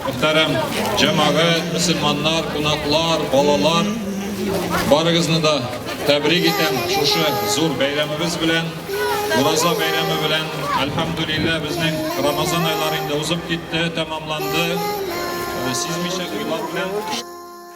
Мөхтәрәм җәмәгать, мөселманнар, кунаклар, балалар, барыгызны да тәбрик итәм шушы зур бәйрәмебез белән. Ураза бәйрәме белән, әлхәмдүлиллә, безнең Рамазан айлары инде узып китте, тәмамланды. Сизмичә уйлар белән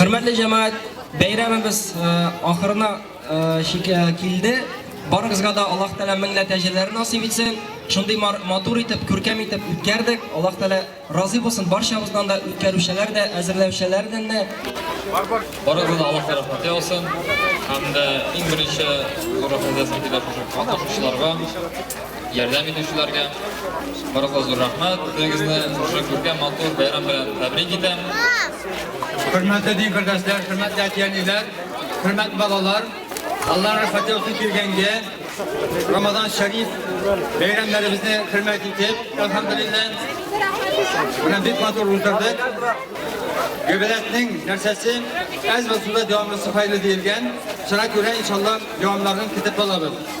Хөрмәтле җәмәгать, бәйрәмебез э, ахырына э, э, килде. Барыгызга да Аллаһ Тәгалә меңлә тәҗрибәләр насыйп итсен. Шундый матур итеп, күркәм итеп үткәрдек. Аллаһ Тәгалә разый булсын барчабыздан да, үткәрүчеләр дә, әзерләүчеләрдән дә. Барыгызга Аллаһ Тәгалә рәхмәт яусын. Һәм дә иң беренче зур рәхмәт әйтәм килә кушучыларга. Ярдәм итүчеләргә барлыгы зур рәхмәт. Үзегезне шушы күркәм матур бәйрәм белән тәбрик итәм. Хөрмәтле дин бердәшләр, хөрмәтле әтиәниләр, хөрмәт балалар, Алла рәхмәте үтеп килгәнгә Рамазан шәриф бәйрәмнәребезне хөрмәт итеп, әлхәмдулиллә, менә бик матур уздырдык. Гөбәләтнең нәрсәсе әз булса да дәвамлысы хәерле диелгән. Шуңа күрә, иншалла, дәвамларын көтеп калабыз.